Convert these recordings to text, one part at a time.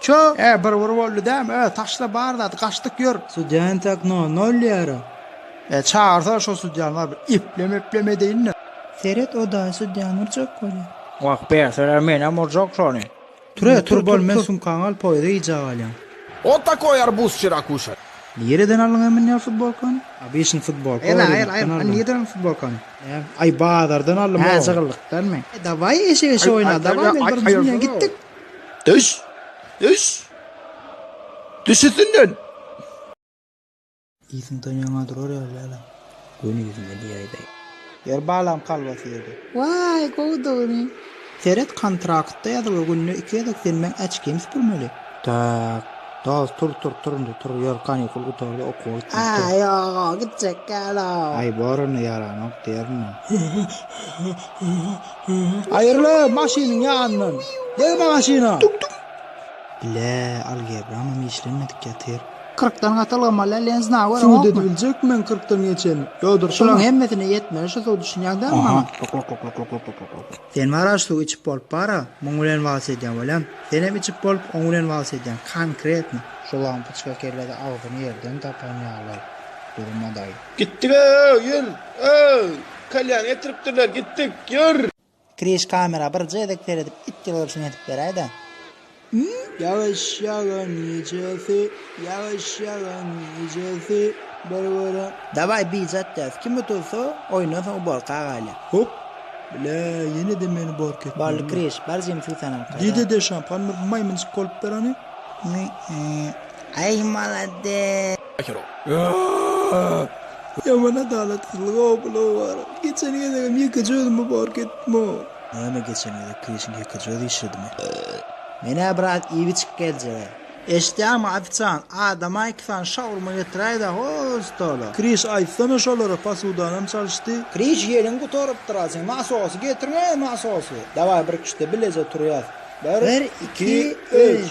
Çö, e, bir bir boldy dämi, ö, taşla bar zady, gaçdyk, ýör. Sudýa entäk no, nolýara. E, çagyrsana şo sudýany bar bir eplem-eplem edeýin-de. Seret, o daýy sudýany urjak bolýar. Wah, berseler menem urjak şony. Tur, e, tur, bol, men sumkaňy alyp poýuza gijä galýan. Ot takoý arbuz çyrakuşa. Nireden aldyň emin ýa futbolkany? Obyçnyý futbolka bar, ýa rynakdan aldym. Aýl, aýl, aýl, nireden aldyň futbolkany? Näm, aý, bazardan aldym, oba. Hä, jygyllykdanmy? Dawaý, eşek-eşek oýna, dawaý, men bir mjim bilen gitdik. Düş! Düş! Düş üstünden! Iziň tan ýaňa durar ýaly dälä. Göni ýüzüňe diýäýdäý. Ýer balam kalbasy ýedi. Waý, gowudygyny. Seret, kontraktda ýazyl, günde iki gezek senmeň äçkiňi süpürmeli. Tak. Dos, tur, tur, tur indi, tur, ýör, kanikul gutardy, okuwa gitmeli, tur. Aý, ýog-ow, gitjek däl-ow. Aý, boranda ýaranok, diýerin men. Aýryly maşynyň ýanyndan. Deg magaşyna. Bile, algebramam işlenmedik ýatyr. Kyrkdan gatylgamala lenzna görüň okmy. Sud edibiljek men kyrkdan geçeni. Ýodurşyna. Şulaň hemmesine ýetmeli şu sud üçin ýagdaýmy maňa. Oha. Sen waraş suw içip bolup bara, muň bilen wals edýäň welem, senem içip bolup oň bilen wals edýäň, konkretno. Şu lampoçka kellede agzyny ýerden tapan ýaly durmadaý. Gitdik öööw ýür öööw. Kalýan getiripdirler gitdik ýür. Kriş kamera bir gezek seredip it ýylgyryşyny edip beräýdä. Ýy ýagyş ýagan gijesi ýagyş ýagan gijesi bir gören. Daway bije atýas kim utulsa oýundan soň uborka agaýla. Hop! Blä ýenede meni uborka etmeli. Boldy Kriş bar jyny suwsan alyp gaýt a. Dede şampan bir maýmynjyk bolup ber ony. Ýy ýy aý malades. Ýaman adalatsyzlyk obalow bar. Geçen gezegem ýekeje özümi bark etdim-ow. Näme geçen gezek keşiň ýekeje özi işledimi. Menä biraz iýbi çykyp geljegä. Eşitýäňmi ofisiant, adama iki sany şawurma getiräýdä hol stola. Kriş aýtsana şolara posudanam çalyşdy. Kriş ýeliň gutarypdyr asyň nasosy getiriň-eý nasosy. Daway bir kişide bileje turýas. Bir iki üç.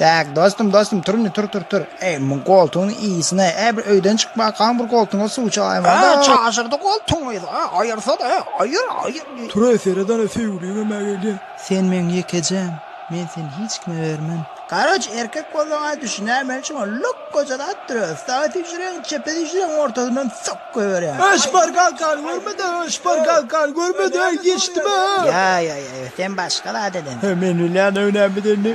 Däk, dostum, dostum, tur indi, tur, tur, tur. Eý, muň goltugyny iýsin-ä, ä, bir öýden çyk bakaň, bir goltuňa suw çalaýmaly-da. Ä, çaşyrdy goltugyňy-da, ä, aýyrsa-da, ä, aýyr, aýyr, diý. Tur-aý, seredana, söýgüliň hem-ä gelýä. Sen meň ýekejäm, men seni hiç kime bermen. Garaz, erkek bolsaň-a, düşünäýmeli, şoňa lok goja zat döret. Saga süýşüreýin, çepe süýşüreýin, ortasyndan sok. Göýberýär. Şpargalkany görmedi, şpargalkany görmedi, öý geçdimi? Ýa, ýa, ýa, ýa, sen başga zat eden. Hä, men bilýän öý nämedir indi.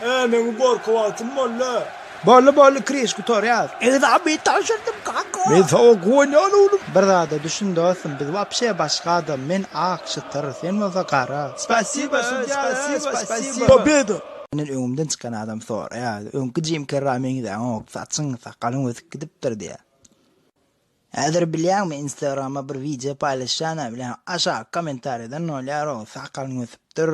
Hä, meň uborka wagtym boldy. Boldy, boldy, kiriş gutarýar. Ekzameni tabşyrdym, kaka. Men saňa guwanýan, oglum. Bir zada düşün, dostum, biz wapşe başga adam, men ak, çytyr, sen bolsa gara. Spasiba, sudýa, spasiba, spasiba. Pobeda! Menden öňümden çykan adam soraýardy, Öňki Jim Kerrä meňzäňok, saçyň, sakalyň ösüp gidipdir diýýär. Häzir bilýäňmi, Instagrama bir wideo paýlaşýana bilen aşak kommentariýadan nolýar-ow, sakalyň ösüpdir,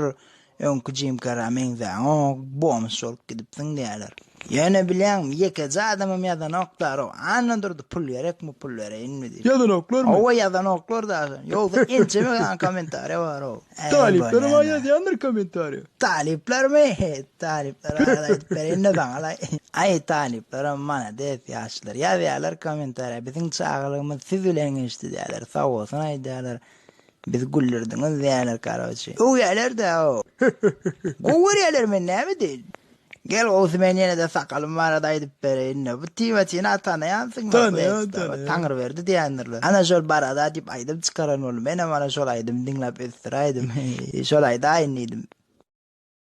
öňki Jim Kerrä meňzäňok, bomž bolup gidipsiň diýýärler. Ýöne bilýäňmi, ýekeje adamam ýazanok darow. Anna durdy, pul gerekmi, pul bereýinmi diýip. Ýazanoklarmy? Hawa, ýazanoklar daşyny. Ýogsa ençeme sany kommentariýa barow. Talyplar emma ýazýandyr kommentariýa. Talyplarmy? Talyplar barada aýdyp bereýin-de saňalaý. Aý, talyplaram malades, ýaşlar. Ýazýarlar kommentariýa, biziň çagalygymyz siz bilen geçdi diýýärler, sag bolsun aýdýarlar. Bizi güldürdiňiz diýýärler karoçi. Öwýärler-dä o. Gowy görýärler men näme edeýin. Gel gowusy men ýene-de sakalym barada aýdyp bereýin-de. Bu Timotini-a tanaýansyňda Plekstraba, Taňryberdi diýendirler. Ana şol barada diýip aýdym çykaran boldy. Menem ana şol aýdymy diňläp ösdüräýdim. Şol aýdaýyn diýdim.